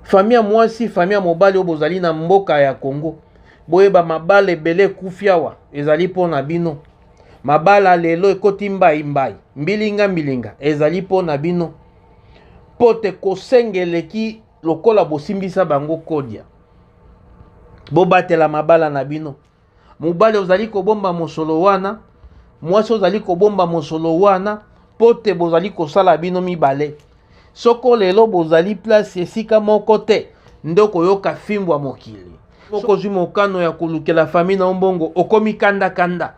Famille ya mwasi, famille ya mobali oyo bozali na mboka ya Congo, boyeba mabala ebele ekufi awa ezali mpo na bino. Mabala lelo ekoti mbai mbai, mbilinga mbilinga ezali mpo na bino, mpo te kosenga eleki lokola bosimbisa bango kodia. Bobatela mabala na bino. mobali ozali kobomba mosolo wana mwasi ozali kobomba mosolo wana mpo te bozali kosala bino mibale soko lelo bozali place esika moko te nde okoyoka fimbo ya mokili okozwi mokano ya kolukela fami na yo mbongo okomi kandakanda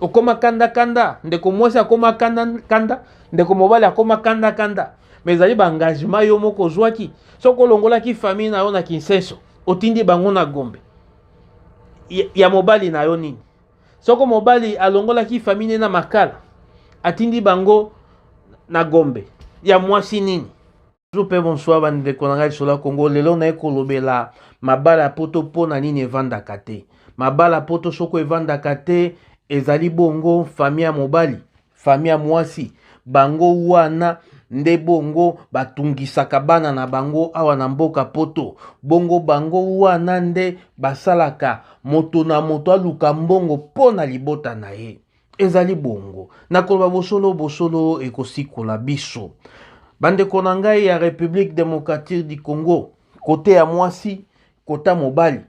okoma kandakanda ndeko mwasi akoma kandakanda ndeko mobali akoma kandakanda me ezali baengagement yo moko ozwaki soki olongolaki famille na yo na kinseso otindi bango na gombe ya mobali na yo nini soko mobali alongolaki famille ne na makala atindi bango na gombe ya mwasi nini toujours mpe bonsoir bandeko na ngai lisolo ya kongo lelo naye kolobela mabala ya poto mpo na nini evandaka te mabala poto soko evandaka te ezali bongo famille ya mobali famille ya mwasi bango wana nde bongo batungisaka bana na bango awa na mboka poto bongo bango wana nde basalaka moto na moto aluka mbongo mpo na libota na ye ezali bongo na koloba bosolo bosolo ekosikola biso bandeko na ngai ya république démocratique du congo kote ya mwasi kota mobali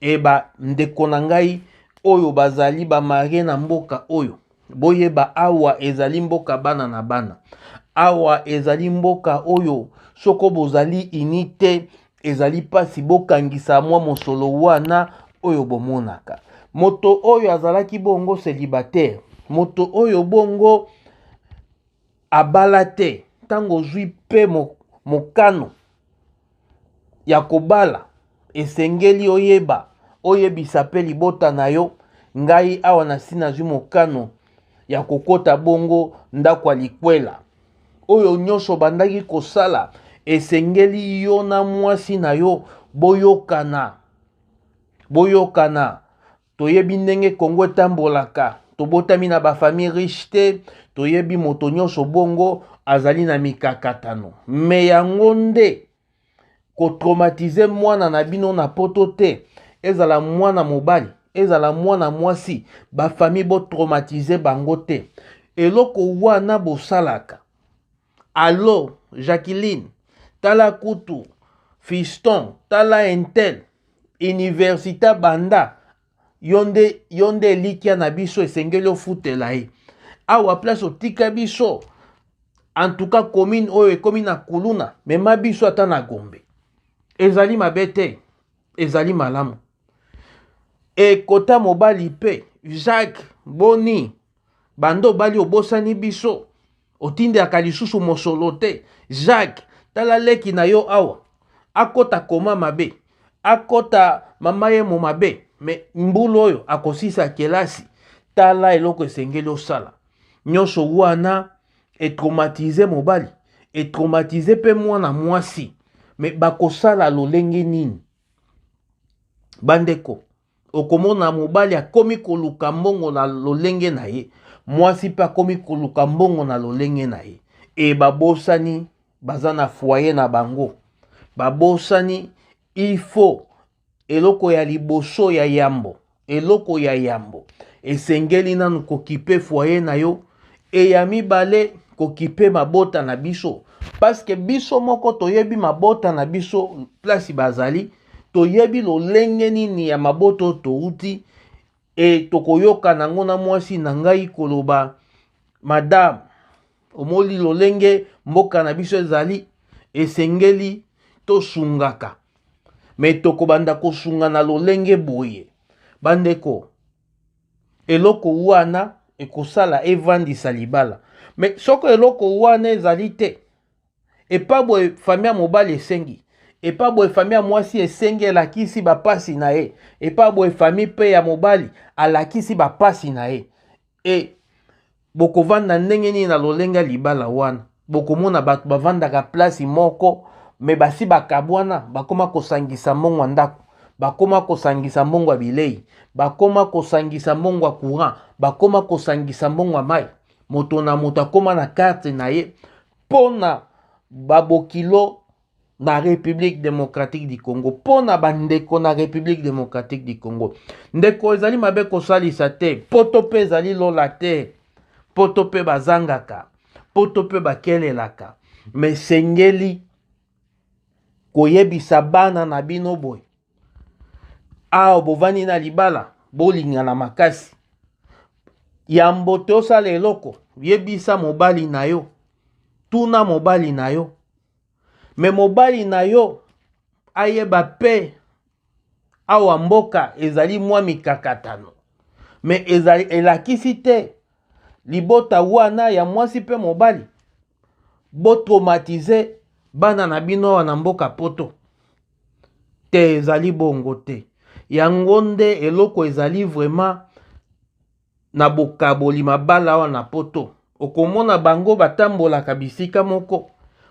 e bandeko na ngai oyo bazali bamarie na mboka oyo boyeba awa ezali mboka bana na bana awa ezali mboka oyo soko bozali ini te ezali mpasi bokangisa mwa mosolo wana oyo bomonaka moto oyo azalaki bongo célibataire moto oyo bongo abala te ntango ozwi mpe mokano ya kobala esengeli oyeba oyebisa mpe libota na yo ngai awa nasi nazwi mokano ya kokota bongo ndako ya likwela oyo nyonso obandaki kosala esengeli yo na mwasi na yo boyokana boyokana Toyebi ndenge Congo etambolaka. Tobotami na ba famille riche te, toyebi moto nyonso bongo azali na mikakatano. Me yango nde kotraumatize mwana na bino na poto te, ezala mwana mobali, ezala mwana mwasi, bafamille botraumatize bango te. Eloko wana bosalaka Allo Jacqueline, tala kutu Fiston, tala Intel, université banda yo nde yo nde elikya na biso esengeli ofutela ye awa place otika biso en tout cas commune oyo ekomi na kuluna mema biso ata na gombe ezali mabe te ezali malamu ekota mobali mpe jacques boni banda obali obosani biso Otindelaka lisusu mosolo te. Jacques, tala leki na yo awa. Akota koma mabe. Akota mama ye mo mabe. Me mbulu oyo akosisa kelasi. Tala eloko esengeli osala. Nyonso wana etraumatize mobali. Etraumatize pe mwana mwasi. Me bakosala lolenge nini? Bandeko, Okomona mobali akomi koluka mbongo na lolenge na ye, mwasi mpe akomi koluka mbongo na lolenge na ye, e babosani baza na foyer na bango, babosani il faut eloko ya liboso ya yambo, eloko ya yambo esengeli nanu kokipe foyer na yo, e ya mibale kokipe mabota na biso, parce que biso moko toyebi mabota na biso place bazali. toyebi lolenge nini ya maboto touti e tokoyoka nango na mwasi na ngai koloba madame omoli lolenge mboka na biso ezali esengeli tosungaka me tokobanda kosunga na lolenge boye bandeko eloko wana ekosala evandisa libala me soko eloko wana ezali te epa boye famille ya mobali esengi epa boye famille ya mwasi esengi elakisi bapasi na ye epa boye famille mpe ya mobali alakisi bapasi na ye e bokovanda ndenge nini na lolenge ya libala wana bokomona bato bavandaka plasi moko me basi bakabwana bakoma kosangisa mbongo ya ndako bakoma kosangisa mbongo ya bilei bakoma kosangisa mbongo ya courant bakoma kosangisa mbongo ya mai moto na moto akoma na karte na ye mpo na babokilo na République démocratique du Congo mpo na bandeko na République démocratique du Congo ndeko ezali mabe kosalisa te poto mpe ezali lola te poto mpe bazangaka poto mpe bakelelaka mesengeli koyebisa bana na bino boye awa bovandi na libala bolingana makasi yambo te osala eloko yebisa mobali na yo tuna mobali na yo me mobali na yo ayeba mpe awa mboka ezali mwa mikakatano me ezali elakisi te libota wana ya mwasi mpe mobali bo traumatiser bana na bino awa na mboka poto te ezali bongo te yango nde eloko ezali vraiment na bokaboli mabala awa na poto okomona bango batambolaka bisika moko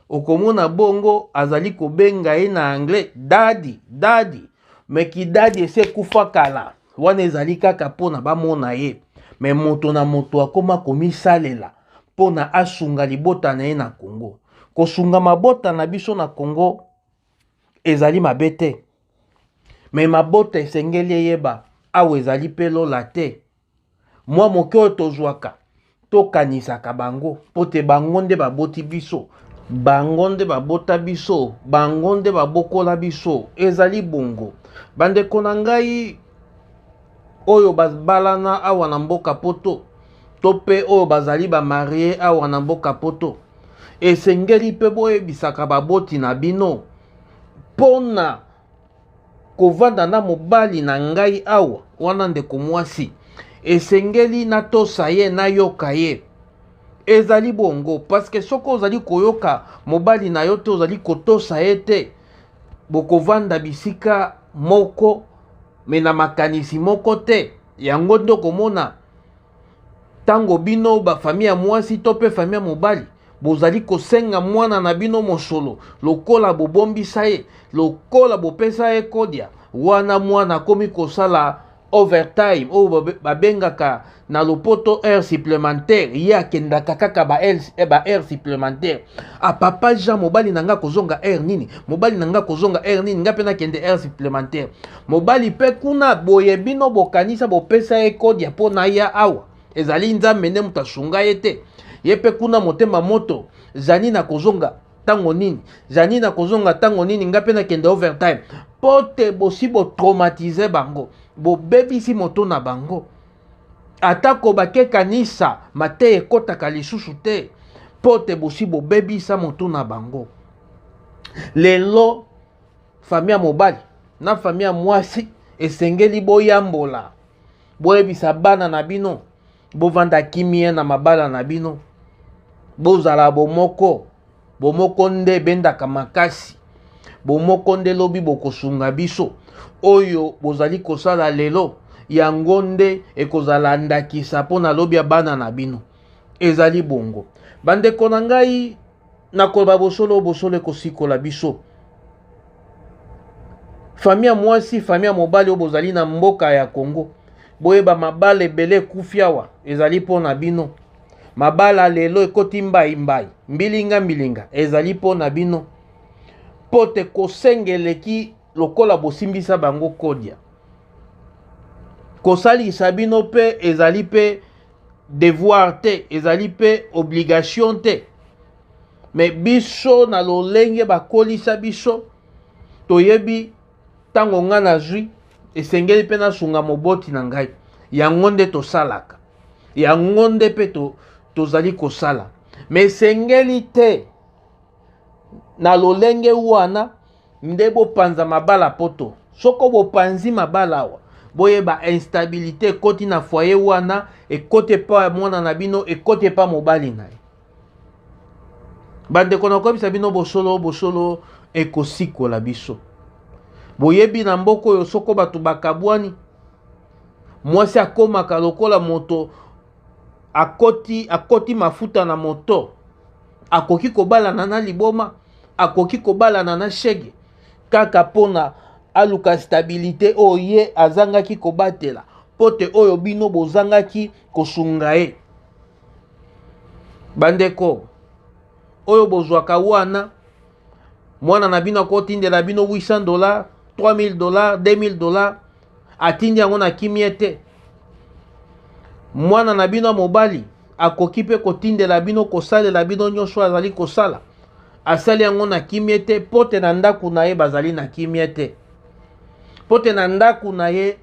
okomona bongo azali kobenga ye na anglais dadi dadi me kidadi esi ekufa kala wana ezali kaka mpona bamona ye me moto na moto akoma komisalela mpo na asunga libota na ye na Congo. Kosunga mabota na biso na Congo ezali mabe te, me mabota esengeli eyeba awa ezali mpe lola te. Mwa moke oyo tozwaka tokanisaka bango mpo te bango nde baboti biso, bango nde babota biso, bango nde babokola biso. Ezali bongo, bandeko na ngai oyo babalana awa na mboka poto to mpe oyo bazali bamarie awa na mboka poto esengeli mpe boyebisaka baboti na bino mpo na kovanda na mobali na ngai awa wana ndeko mwasi esengeli natosa ye nayoka ye ezali bongo parceke soki ozali koyoka mobali na yo te ozali kotosa ye te bokovanda bisika moko me na makanisi moko te yango nde okomona ntango bino bafami ya mwasi to mpe fami ya mobali bozali kosenga mwana na bino mosolo lokola bobombisa ye lokola bopesa ye kodia wana mwana akomi kosala overtime oyo babengaka na lopoto heure supplémentaire ye akendaka kaka baheure eh, supplémentaire apapa ah, jean mobali na ngai akozonga heure nini mobali na ngai akozonga heure nini ngai mpe nakende heure supplémentaire Mobali pe kuna boye bino bokanisa bopesa ye code ya po naya awa ezali nzambe nde moto asunga ye te ye pe kuna motema moto zani na kozonga ntango nini zani na kozonga ntango nini ngai mpe nakende overtime mpo te bosi botraumatize bango bobebisi moto na bango atako bake kanisa mateya ekotaka lisusu te mpo te bosi bobebisa moto na bango lelo Famille ya mobali na famille ya mwasi esengeli boyambola, boyebisa bana na bino, bovanda kimia na mabala na bino, bozala bomoko. Bomoko nde ebendaka makasi, bomoko nde lobi bokosunga biso. Oyo bozali kosala lelo, yango nde ekozala ndakisa mpo na lobi ya bana na bino. Ezali bongo, bandeko na ngai. na koloba bosolo bosolo ekosikola biso famille ya mwasi famille ya mobali oyo bozali na mboka ya congo boyeba mabala ebele ekufi awa ezali mpo na bino mabala lelo ekoti mbaimbai mbilinga mbilinga ezali mpo na bino mpo te kosenga eleki lokola bosimbisa bango kodia kosalisa bino mpe ezali mpe devoir te ezali mpe obligation te me biso na lolenge bakolisa biso toyebi ntango ngai nazwi esengeli mpe nasunga moboti na ngai yango nde tosalaka yango nde mpe to, tozali kosala me esengeli te na lolenge wana nde bopanza mabala poto soko bopanzi mabala awa boyeba instabilité ekoti na foyer wana ekoti epa ya mwana na bino ekoti epa mobali na ye bandeko nakoyebisa bino bosolo bosolo ekosikola biso boyebi na mboka oyo soko bato bakabwani mwasi akomaka lokola moto akoti, akoti mafuta na moto akoki kobalana na liboma akoki kobalana na shege kaka mpona aluka stabilite oyo ye azangaki kobatela mpo te oyo bino bozangaki kosunga ye bandeko oyo bozwaka wana mwana na bino akotindela bino 800 dollar 3000 dollar 2000 dollar atindi yango na kimia te mwana na bino ya mobali akoki mpe kotindela bino kosalela bino nyonso azali kosala asali yango na kimia te mpo te na ndako na ye bazali na kimia te mpo te na ndako na ye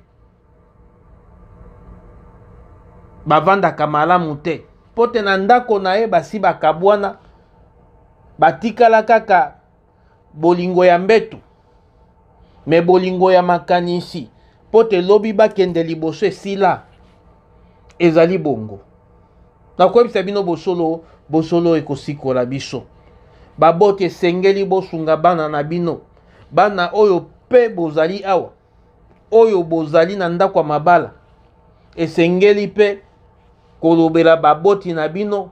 bavandaka malamu te mpo te na ndako na ye basi bakabwana batikala kaka bolingo ya mbetu me bolingo ya makanisi mpo te lobi bakende liboso esila ezali bongo nakoyebisa bino bosolo bosolo ekosikola biso baboti esengeli bosunga bana na bino bana oyo mpe bozali awa oyo bozali na ndako ya mabala esengeli mpe kolobela baboti na bino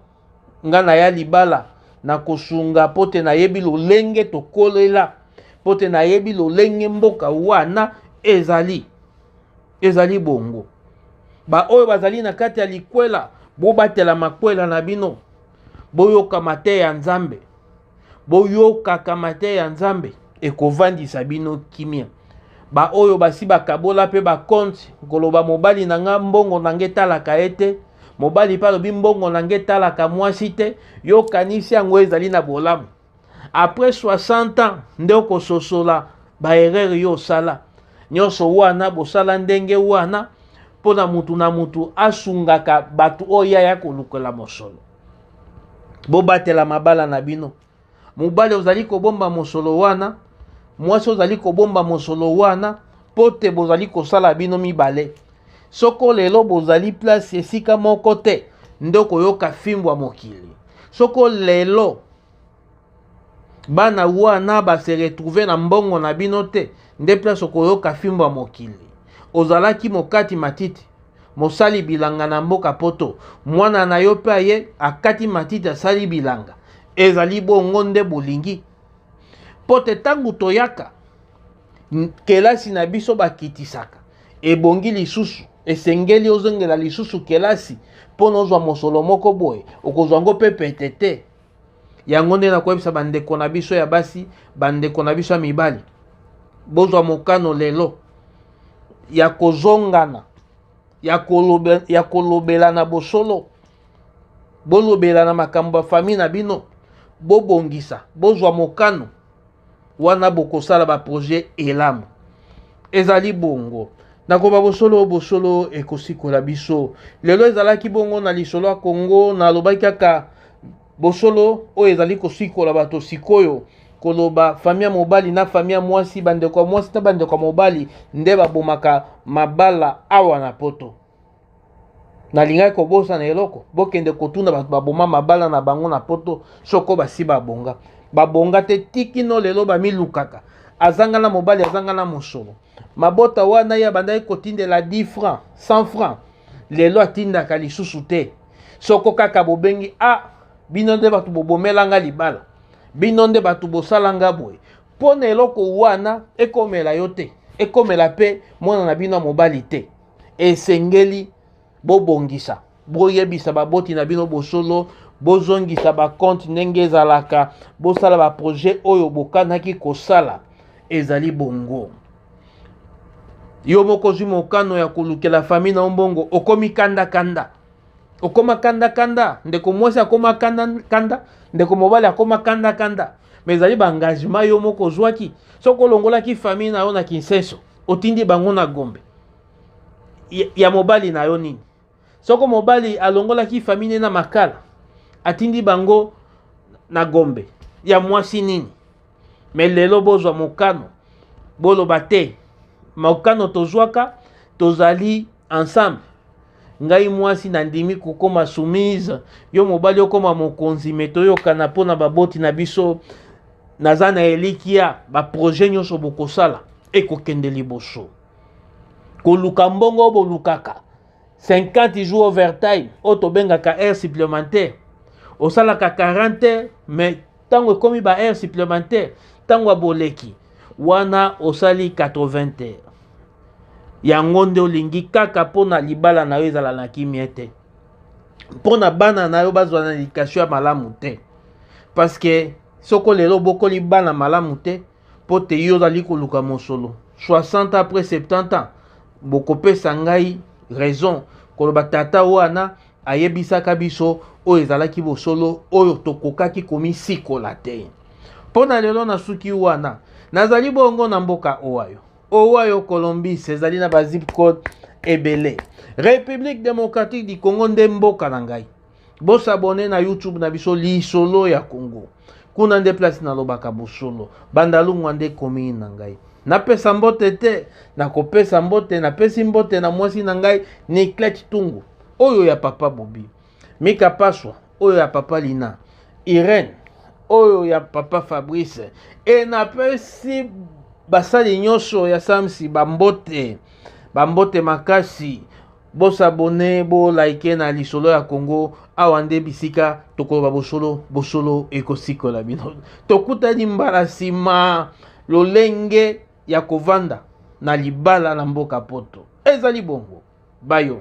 nga na ya libala na kosunga mpo te nayebi lolenge tokolela mpo te nayebi lolenge mboka wana ezali ezali bongo baoyo bazali na kati ya likwela bobatela makwela na bino boyoka mateya ya nzambe boyokaka mateya ya nzambe ekofandisa bino kimia baoyo basi bakabola mpe bakonti koloba mobali na ngai mbongo na ngai etalaka ye te mobali mpe alobi mbongo na ngai etalaka mwasi te yokanisi yango ezali na bolamu apres 60 ans nde okososola baerreur yo osala nyonso wana bosala ndenge wana mpo na motu na motu asungaka bato oyo aya kolukela mosolo bobatela mabala na bino mobali ozali kobomba mosolo wana mwasi ozali kobomba mosolo wana mpo te bozali kosala bino mibale soko lelo bozali place esika moko te nde okoyoka fimbo ya mokili soko lelo bana wana base retrouve na mbongo na bino te nde place okoyoka fimbo ya mokili ozalaki mokati matiti mosali bilanga na mboka poto mwana na yo mpe aye akati matiti asali bilanga ezali bongo nde bolingi mpo te ntango toyaka kelasi na biso bakitisaka ebongi lisusu esengeli ozongela lisusu kelasi mpo na ozwa mosolo moko boye okozwa yango mpe pete te yango nde nakoyebisa bandeko na biso ya basi bandeko na biso ya mibali bozwa mokano lelo ya kozongana ya, kolobe, ya kolobelana bosolo bolobelana makambo ya fami na bino bobongisa bozwa mokano wana bokosala baprojet elamu ezali bongo nakoba bosolo bosolo ekosikola biso lelo ezalaki bongo na lisolo ya kongo nalobaki kaka bosolo oyo ezali kosikola bato sikoyo koloba fami ya mobali na fami ya mwasi bandeko ya mwasi na bandeko ya mobali nde babomaka mabala awa na poto nalingaki kobosana eloko bokende kotuna bato baboma mabala na bango na poto soko basi babonga babonga te tikino lelo bamilukaka azanga na mobali azanga na mosolo mabota wana ye abandaki kotindela 10 franc 100 franc lelo atindaka lisusu te soko kaka bobengi a ah, bino nde bato bobomelanga libala bino nde bato bosalanga boye mpo na eloko wana ekomela yo te ekomela mpe mwana na bino ya mobali te esengeli bobongisa boyebisa baboti na bino bosolo bozongisa bakonte ndenge ezalaka bosala baprojet oyo bokanaki kosala ezali bongo yo moko ozwi mokano ya kolukela fami na yo mbongo okomi kandakanda okoma kandakanda ndeko mwasi akoma kandakanda ndeko mobali akoma kandakanda me ezali baengagement yo moko ozwaki soki olongolaki fami na yo na kinsenso otindi bango na gombe ya mobali na yo nini soko mobali alongolaki famille na makala atindi bango na gombe ya mwasi nini me lelo bozwa mokano boloba te mokano tozwaka tozali ensemble ngai mwasi nandimi kokoma soumise yo mobali okoma mokonzi me toyokana mpo na baboti na biso naza na elikya baprojet nyonso bokosala ekokende liboso koluka mbongo bolukaka 50 jours overtime oyo tobengaka aire supplémentaire osalaka 40 heures mais ntango ekomi ba heure supplémentaire ntango ya boleki wana osali 80 te yango nde olingi kaka mpo na libala na yo ezala na kimia te mpo na bana na yo bazwa na edikatio ya malamu te parceke soko lelo obokoli bana malamu te mpo te yo ozali koluka mosolo 60 après 70 ans bokopesa ngai raison koloba tata wana ayebisaka biso oyo ezalaki bosolo oyo tokokaki komisikola te mpo na lelo nasuki wana nazali bongo na mboka owayo owayo colombis ezali na bazip code ebele république démocratique du congo nde mboka na ngai Bo s'abonner na YouTube na biso Lisolo ya Congo. Kuna nde place nalobaka bosolo. Bandalungwa nde commune na ngai. Napesa mbote te, nakopesa mbote, napesi mbote na mwasi na ngai Niclette Tungu, oyo ya papa Bobi. Mika Paswa, oyo ya papa Lina. Irène, oyo ya papa Fabrice. E napesi basali nyonso ya Samsi bambote, bambote makasi. Bo s'abonner, bo liker na lisolo ya Congo. Awa nde bisika tokoloba bosolo, bosolo ekosikola bino. Tokutani mbala nsima lolenge ya kovanda na libala na mboka Poto. Ezali bongo. Bayo.